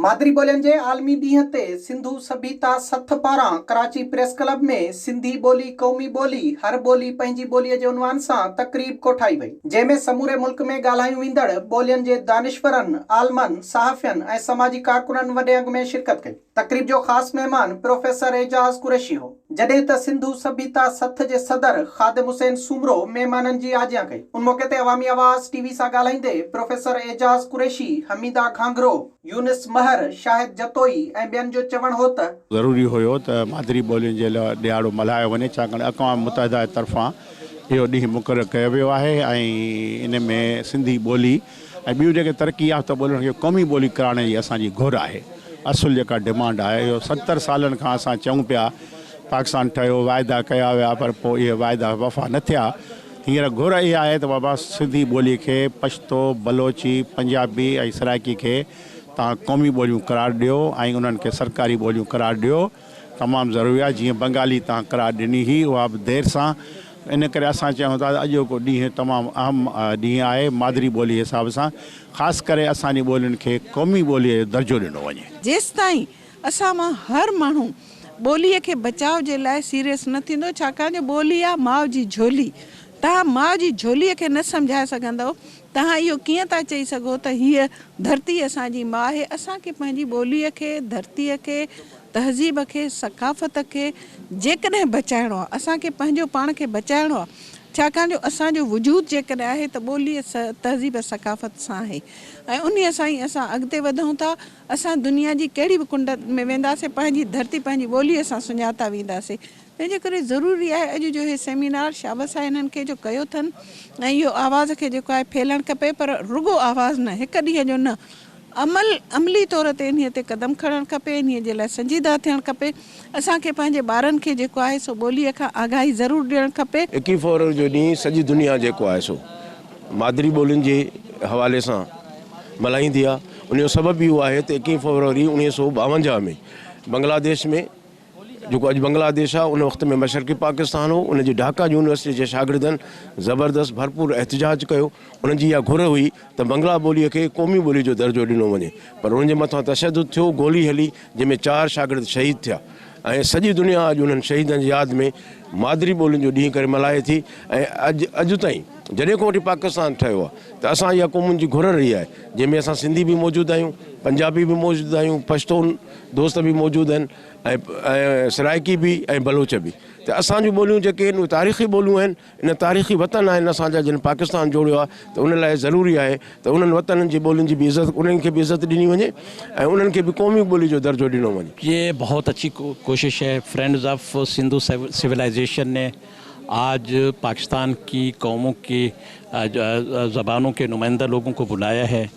مادري ٻولين جي عالمي ڏينهن تي سنڌو سڀيتا سٿ پاران ڪراچي پريس ڪلب ۾ سنڌي ٻولي قومي ٻولي، هر ٻولي پنهنجي ٻولي جي عنوان سان تقريب ڪوٺائي وئي، جنهن ۾ سموري ملڪ ۾ ڳالهايون ويندڙ ٻولين جي دانشورن، عالمن، صحافين ۽ سماجي ڪارڪنن وڏي انگ ۾ شرڪت ڪئي. تقريب جو خاص مهمان پروفيسر اعجاز قريشي هو. جڏهن ته سنڌو سڀيتا سٿ جي صدر خادم حسين سومرو مهمانن جي آجيان ڪئي. ان موقعي تي عوامي آواز ٽي وي سان ڳالهائيندي پروفيسر اعجاز قريشي، حميده گهانگهرو، يونس مهر، شاهد جتوئي ۽ ٻين جو چوڻ هو ته. ضروري هيو ته مادري ٻولين جي لاء ڏهاڙو ملهايو وڃي ڇاڪاڻ اقوام متحده جي طرفان اهو ڏينهن مقرر ڪيو ويو آهي ۽ ان ۾ سنڌي ٻولي. ۽ ٻيون جيڪي ترقي يافته ٻولين کي قومي ٻولي ڪرائڻ جي اسان جي گهر آهي. اصل جيڪا ڊمانڊ آهي اهو ستر سالن کان اسان چئون پيا پاڪستان ٺهيو واعدا ڪيا ويا پر پوء اهي واعدا وفا نه ٿيا هينئر گهر اها آهي ته بابا سنڌي ٻولي کي پشتو، بلوچي، پنجابي ۽ سرائڪي کي توهان قومي ٻوليون قرار ڏيو ۽ انهن کي سرڪاري ٻوليون قرار ڏيو. تمام ضروري آهي جيئن بنگالي تان قرار ڏني هئي اها به دير سان ان ڪري اسان چيون ٿا ته اڄوڪو ڏينهن تمام اهم ڏينهن آهي مادري ٻولي جي حساب سان خاص ڪري اسان جي ٻولين کي قومي ٻولي جو درجو ڏنو وڃي. جيستائين اسان مان هر ماڻهو ٻولي کي بچاء جي لاء سيريس نه ٿيندو ڇاڪاڻ جو ٻولي آهي ماء جي جهولي تهان ماء جي جهولي کي نه سمجهائي سگهندؤ توهان اهو ڪيئن ٿا چئي سگهو ته هيء ڌرتي اسان جي ماء آهي؟ اسان کي پنهنجي ٻوليء کي، ڌرتيء کي، تهذيب کي، ثقافت کي جيڪڏهن بچائڻو آهي، اسان کي پنهنجو پاڻ کي بچائڻو آهي، ڇاڪاڻ جو اسان جو وجود جيڪڏهن آهي ته ٻوليء، تهذيب ۽ ثقافت سان آهي ۽ انهيء سان ئي اسان اڳتي وڌون ٿا. اسان دنيا جي ڪهڙي به ڪنڊ ۾ وينداسين، پنهنجي ڌرتي، پنهنجي ٻوليء سان سڃاتا وينداسين. ان جي ڪري ضروري آهي اڄ جو هي سيمينار شابس آهي انهن کي جو ڪيو اٿن ۽ اهو آواز کي جيڪو آهي ڦهلڻ کپي پر رڳو آواز نه هڪ ڏينهن جو نه عمل عملي طور تي انهي تي قدم کڻڻ کپي انهي جي لاء سنجيده ٿيڻ کپي اسان کي پنهنجي ٻارن کي جيڪو آهي سو ٻولي کان آگاهي ضرور ڏيڻ کپي. ايڪي فورر جو ڏينهن سڄي دنيا جيڪو آهي سو مادري ٻولين جي حوالي سان ملهائيندي آهي ان جو سبب اهو آهي ته ايڪي فوروري اڻيهه سئو ٻاونجاهه ۾ بنگلاديش ۾ جيڪو اڄ بنگلاديش آهي، ان وقت ۾ مشرقي پاڪستان هو، ان جي ڍاڪا يونيورسٽيء جي شاگردن زبردست ڀرپور احتجاج ڪيو، انهن جي اها گهر هئي ته بنگلا ٻوليء کي قومي ٻوليء جو درجو ڏنو وڃي، پر انهن جي مٿان تشدد ٿيو، گولي هلي، جنهن ۾ چار شاگرد شهيد ٿيا ۽ سڄي دنيا اڄ انهن شهيدن جي ياد ۾ مادري ٻولين جو ڏينهن ڪري ملهائي ٿي ۽ اڄ تائين جڏهن کان وٺي پاڪستان ٺهيو آهي ته اسان اها قومن جي گهر رهي آهي، جنهن ۾ اسان سنڌي به موجود آهيون، پنجابي به موجود آهيون، پشتون، دوست به موجود آهن ۽ سرائيڪي به ۽ بلوچ به ته اسان جون ٻوليون جيڪي آهن اهي تاريخي ٻوليون آهن ان تاريخي وطن آهن اسان جا جن پاڪستان جوڙيو آهي ته ان لاء ضروري آهي ته انهن وطنن جي ٻولين جي به عزت انهن کي به عزت ڏني وڃي ۽ انهن کي به قومي ٻولي جو درجو ڏنو وڃي. يي بهوت اڇي ڪوشش هي فرينڊز آف سنڌو سولائيزيشن ني آج پاڪستان ڪي قومون ڪي زبانون ڪي نمائنده لوگون ڪو بلايا هي.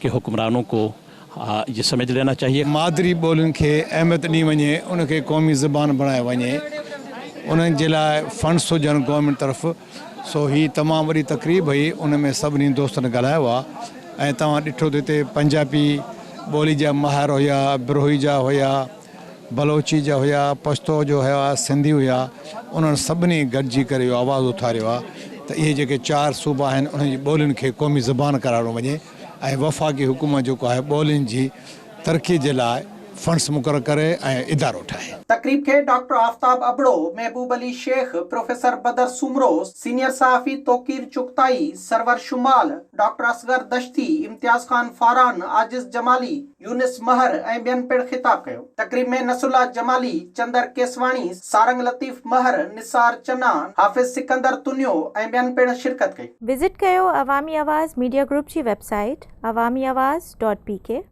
ڪي حڪمرانون ڪو يه سمجھ لينا چاھيي. مادري ٻولين کي اهميت ڏني وڃي، ان کي قومي زبان بڻايو وڃي، انهن جي لاء فنڊس هجن گورنمينٽ طرف، سو هي تمام وڏي تقريب هئي، ان ۾ سڀني دوستن ڳالهايو آهي ۽ توهان ڏٺو ته هتي پنجابي ٻولي جا ماهر هيا، بروهي جا هيا، بلوچي جا هيا، پشتو جو هيا، سنڌي هيا، انهن سڀني گڏجي ڪري اهو آواز اٿاريو آ ته اهي جيڪي چار صوبا آهن انهن جي ٻولين کي قومي زبان قرارڏنو وڃي ۽ وفاقي حڪومت جيڪو آهي ٻولين جي ترقي جي لاء فنڊز مقرر ڪري ۽ ادارو ٺاهي. تقريب کي doctor Aftab Abro, Mehboob Ali Shaikh, professor Badar Soomro, senior صحافي توقير چغتائي، سرور شمال، ڊاڪٽر اصغر دشتي، امتياز خان فاران، عاجز جمالي، يونس مهر ۽ ٻين پڻ خطاب ڪيو. تقريب ۾ نصرالله جمالي، چندر ڪيسواڻي، سارنگ لطيف مهر، نثار چنا، حافظ سڪندر تنيو ۽ ٻين پڻ شرڪت ڪئي. وزٽ ڪيو عوامي آواز ميڊيا گروپ جي website Awami Awaz dot P ڪي.